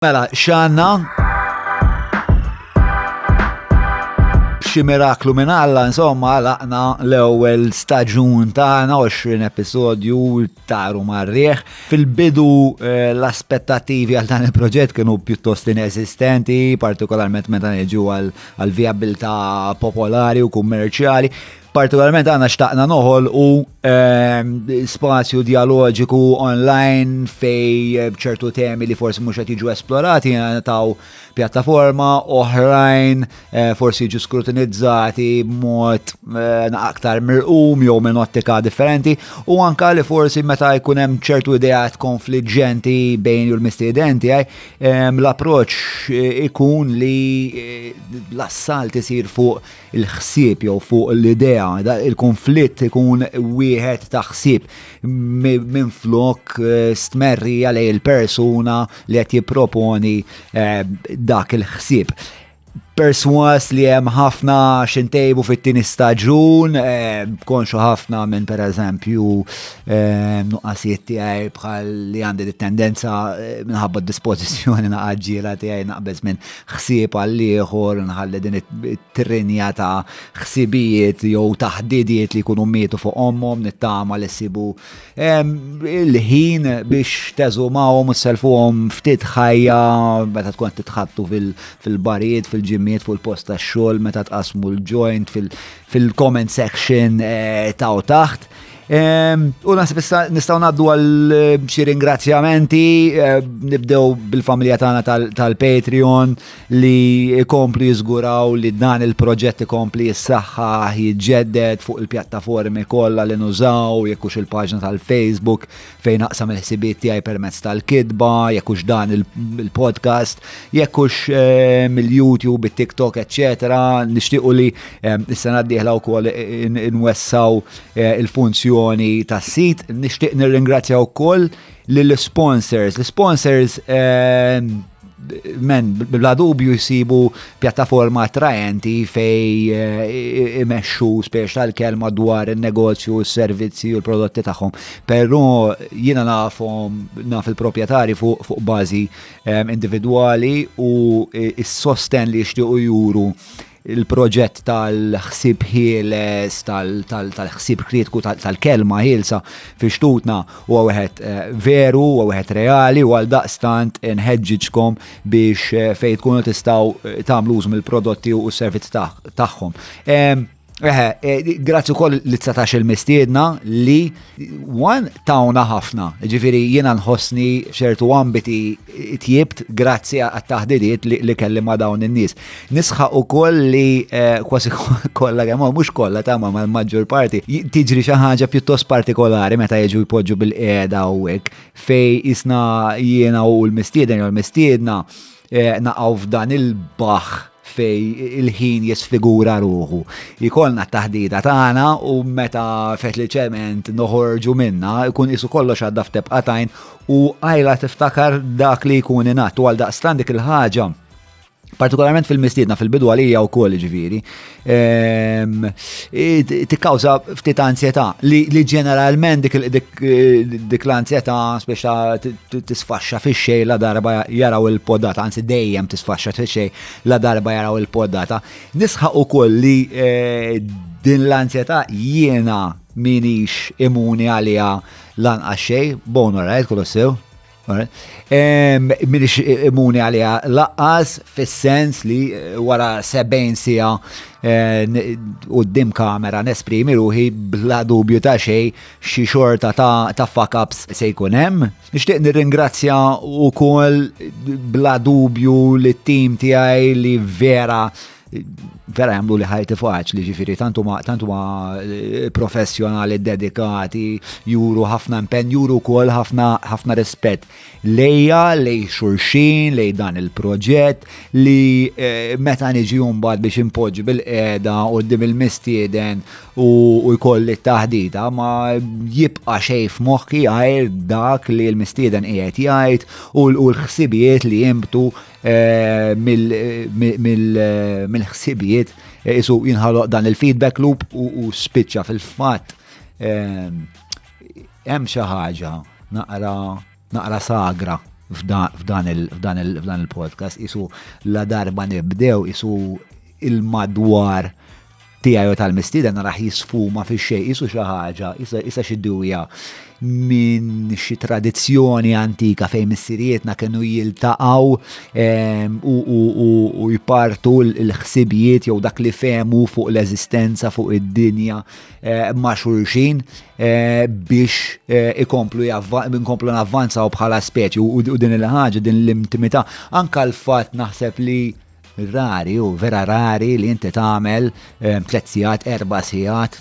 Mela, xanna? Xi miraklu minn Alla, insomma, laqna l-ewwel staġun tagħna 20 episodju taru marrieħ. Fil-bidu eh, l-aspettativi għal dan il-proġett kienu pjuttost inesistenti, partikolarment meta niġu għal viabilità popolari u kummerċjali. Partikolarment għana xtaqna noħol u ehm, spazju dialogiku online fej eh, ċertu temi li forsi mhux qed jiġu esplorati taw pjattaforma oħrajn eh, forsi jiġu skrutinizzati b'mod eh, aktar mirqum jew minn ottika differenti u anka li forsi meta jkun hemm ċertu ideat konfliġġenti bejn u l-mistiedenti ehm, l-approċċ ikun li l-assalt isir fuq il-ħsieb jew fuq l-idea, il-konflitt ikun wieħed ta' ħsieb minn flok eh, stmerrija lej il-persuna li qed jipproponi eh, dak il-ħsieb perswas li hemm ħafna xintejbu fit-tieni staġun, eh, konxu ħafna minn per eżempju eh, nuqqasijiet tiegħi bħal li għandi tendenza eh, minħabba d-dispożizzjoni naqaġġiela tiegħi naqbeż minn ħsieb għall-ieħor, nħalli din it-trinja ta' ħsibijiet jew ta' ħdidiet li jkunu mietu fuq ommhom, nittama li sibu il-ħin biex teżumawhom u selfuhom ftit ħajja meta tkun titħattu fil-barijiet, fil-ġimmiet, fuq il-post tax-xogħol, meta tqasmu l-joint fil-comment section eh, ta' taħt. Ehm, u nasib issa nistaw naddu għal eh, xi ringrazzjamenti, eh, nibdew bil-familja tagħna tal-Patreon li ikomplu jiżguraw li dan il-proġett ikompli jissaħħa jiġġedded fuq il-pjattaformi kollha li nużaw, jekk hux il-paġna tal-Facebook, fejn naqsam il-ħsibiet tiegħi permezz tal-kidba, jekk hux dan il-podcast, jekk hux eh, mill-YouTube, it-TikTok, eċetera, nixtiequ li eh, s-sena d-dieħla wkoll nwessaw eh, il-funzjoni tas-sit, nixtieq nirringrazzja wkoll lill-sponsors. L-sponsors men bla dubju jisibu pjattaforma attraenti fej eh, imexxu spiex tal-kelma dwar il-negozju, il-servizzi u l-prodotti tagħhom. Però jiena nafhom naf il-proprjetari fuq fu bażi eh, individwali u eh, s-sosten li jixtiequ juru il-proġett tal-ħsieb ħieles, tal-ħsieb kritiku, tal-kelma ħielsa fi xtutna huwa wieħed eh, veru, huwa wieħed reali u għal daqstant nħeġġiġkom biex eh, fejn tkunu tistgħu eh, tagħmlu użu mill-prodotti u s-servizz tagħhom. Eħe, grazzi wkoll li tsatax il-mistiedna li One, tawna ħafna, ġifiri jiena nħossni ċertu ambiti tjibt grazzi għat-taħdidiet li kelli ma dawn in-nies. Nisħaq ukoll li eh, kważi kollha kemm mhux kollha ta' ma l-maġġor parti tiġri xi ħaġa pjuttost partikolari meta jiġu jpoġġu bil-qiegħda u hekk fej isna jiena u l-mistieden jew l-mistiedna Eh, naqaw f'dan il-baħ fej il-ħin jisfigura ruħu. Ikolna taħdida tagħna u meta fetlċement noħorġu minna, ikun isu kollox għadda f'tebqa tajn u għajla tiftakar dak li jkun inat u għal daqstan dik il-ħaġa partikolarment fil-mistiedna fil-bidu għalija u koll ġviri, Ehm, tikkawża ftit ansjetà li ġeneralment dik l-ansjetà speċa tisfaxxa fix-xej la darba jaraw il-podata, anzi dejjem tisfaxxa fix-xej la darba jaraw il-podata. Nisħaq ukoll li eh, din l-ansjetà jiena minix imuni għalija lanqax xej, bonu rajt kolossew. Minix imuni għalija laqqas fis-sens li eh, wara 70 sija eh, u d-dim kamera nesprimi ruħi bla dubju ta' xej xi xorta ta' fuck-ups se jkun hemm. Nixtieq nirringrazzja wkoll bla dubju li t-tim tiegħi li vera vera jamlu li ħajti faċ li ġifiri tantu ma tantu ma eh, professjonali dedikati juru ħafna impen juru kol ħafna ħafna rispett lejja lej xurxin lej dan il-proġett li eh, meta niġi mbagħad biex impoġġi bil-qeda u dim il-mistieden u jkolli t-taħdita ma jibqa' xej f'moħħi għajr dak li l-mistieden qiegħed jgħid u l-ħsibijiet li jimbtu Eh, mill-ħsibijiet eh, isu jinħaloq dan il-feedback loop u spiċċa fil-fatt eh, hemm xi ħaġa naqra sagra f'dan il-podcast isu la darba nibdew isu il-madwar tiegħi u tal-mistieden naraħ jisfuma fi xejn isu xi ħaġa, isa xi dewja minn xi tradizzjoni antika fejn missirietna kienu jiltaqgħu ehm, u jpartu l-ħsibijiet jew dak li fehmu fuq l-eżistenza fuq id-dinja eh, ma' xulxin eh, biex eh, ikomplu nkomplu navvanzaw bħala speċi u din il-ħaġa din l-intimità anka l-fatt naħseb li Rari hu, vera rari li inti tagħmel ehm, tliet sigħat, erba' sigħat,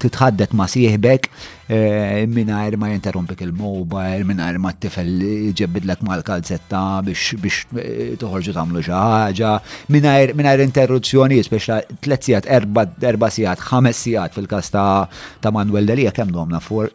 titħaddet ma' sieħbek ehm, mingħajr ma jinterrompik il-mobile, mingħajr ma t-tifel ġebbidlek mal-kalzetta biex eh, toħorġu tagħmlu xi ħaġa, mingħajr interruzzjoni, speċa tliet sigħat, erba' sigħat, ħames sigħat fil-każ ta' Manuel Delia kemm domna for?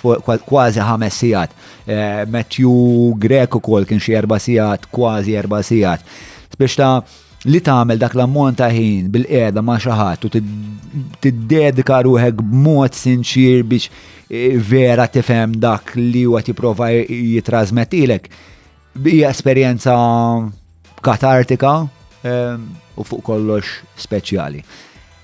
kważi ħames sigħat. Eh, Matthew Grek ukoll kien xi erba' sigħat, kważi erba' sigħat. Biex ta' li tagħmel dak l-ammont ta' ħin bil-qiegħda ma' xi ħadd u tiddedika ruħek b'mod sinċir biex eh, vera tifhem dak li huwa tipprova jitrasmettilek Bija esperjenza katartika ehm, u fuq kollox speċjali.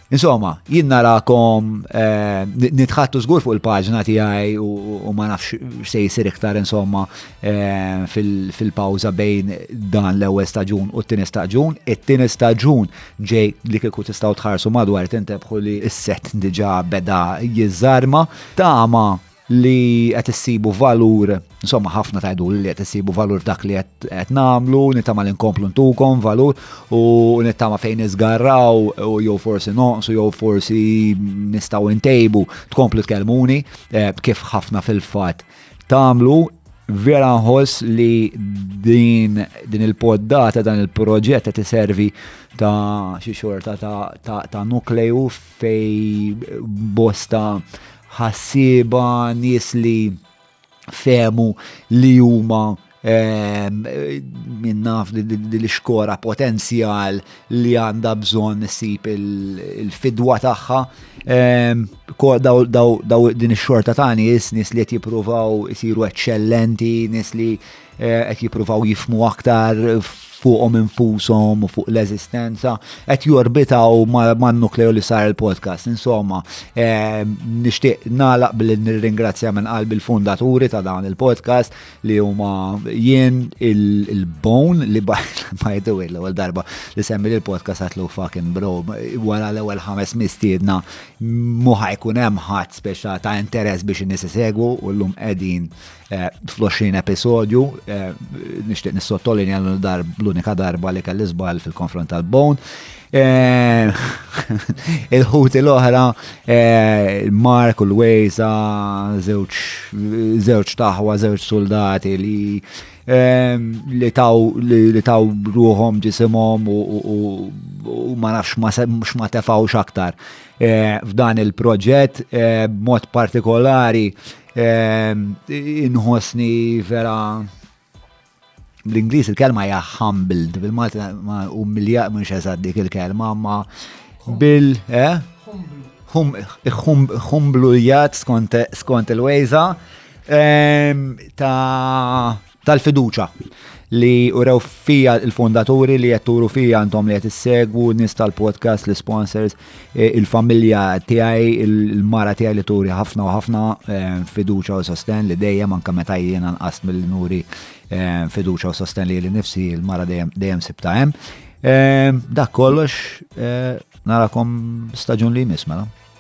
Insomma, jien narakom eh, nitħattu żgur fuq il-paġna tiegħi u ma nafx se jsir iktar insomma eh, fil-pawża bejn dan l-ewwel staġun u t-tieni staġun. It-tieni staġun ġej li kieku tistgħu tħarsu madwar tintebħu li s-set diġà beda jiżarma. Tama li qed issibu valur, insomma ħafna tajdu li qed issibu valur dak li qed nagħmlu, nittama li nkomplu ntukom valur u nittama fejn iżgarraw u jew forsi noqsu jew forsi nistgħu ntejbu tkomplu tkellmuni eh, kif ħafna fil-fatt tagħmlu vera nħoss li din, din il-poddata, dan il-proġett qed iservi ta' xi xorta ta', ta, ta nukleju fej bosta ħassieba, nies li fehmu li huma ehm, minnaf l-iskora potenzjal li għanda bżon sip il-fidwa tagħha. Ehm, daw din ix-xorta ta' nies, nies li qed jippruvaw isiru eċċellenti, nies li Eh, qed jippruvaw jifmu aktar fuqhom infushom u fuq l-eżistenza, qed jorbitaw man-nukleu li sar il-podcast. Insomma, eh, nixtieq nagħlaq billi nirringrazzja minn qalbi l-fundaturi ta' dan il-podcast li huma jien il-bone li ma jiddu l-ewwel darba li semmi il-podcast għatlu fucking bro wara l-ewwel ħames mistiedna muħa jkun hemm ħadd speċa ta' interess biex in-nies isegwu u llum qegħdin Eh, fl-20 episodju, eh, nishtiq nissottolini għal dar l-unika darba li kelli zbal fil-konfront tal-bone. Eh, il-ħuti l-oħra, Mark u l-Wejza, zewċ taħwa, zewċ soldati li Ehm, li taw li taw ruhom ġisimhom u ma nafx ma tefawx aktar. Eh, f'dan il-proġett eh, b'mod partikolari Ehm, inħosni vera bl-Ingliż il-kelma hija humbled, bil-Malti ma umilja mhux eżatt dik il-kelma, ma bil eh? humblujat skont il-wejza ehm, ta' tal-fiduċa li urew fija il-fondaturi li qed turu fija għandhom li qed issegwu nies tal-podcast, l-sponsors, eh, il-familja tiegħi, il-mara tiegħi li turi ħafna u ħafna eh, fiduċa u sosten li dejjem anke meta jiena nqas mill-nuri eh, fiduċa u sosten li nifsi il-mara dejjem sibta hemm. Dak kollox narakom staġun li jmiss mela.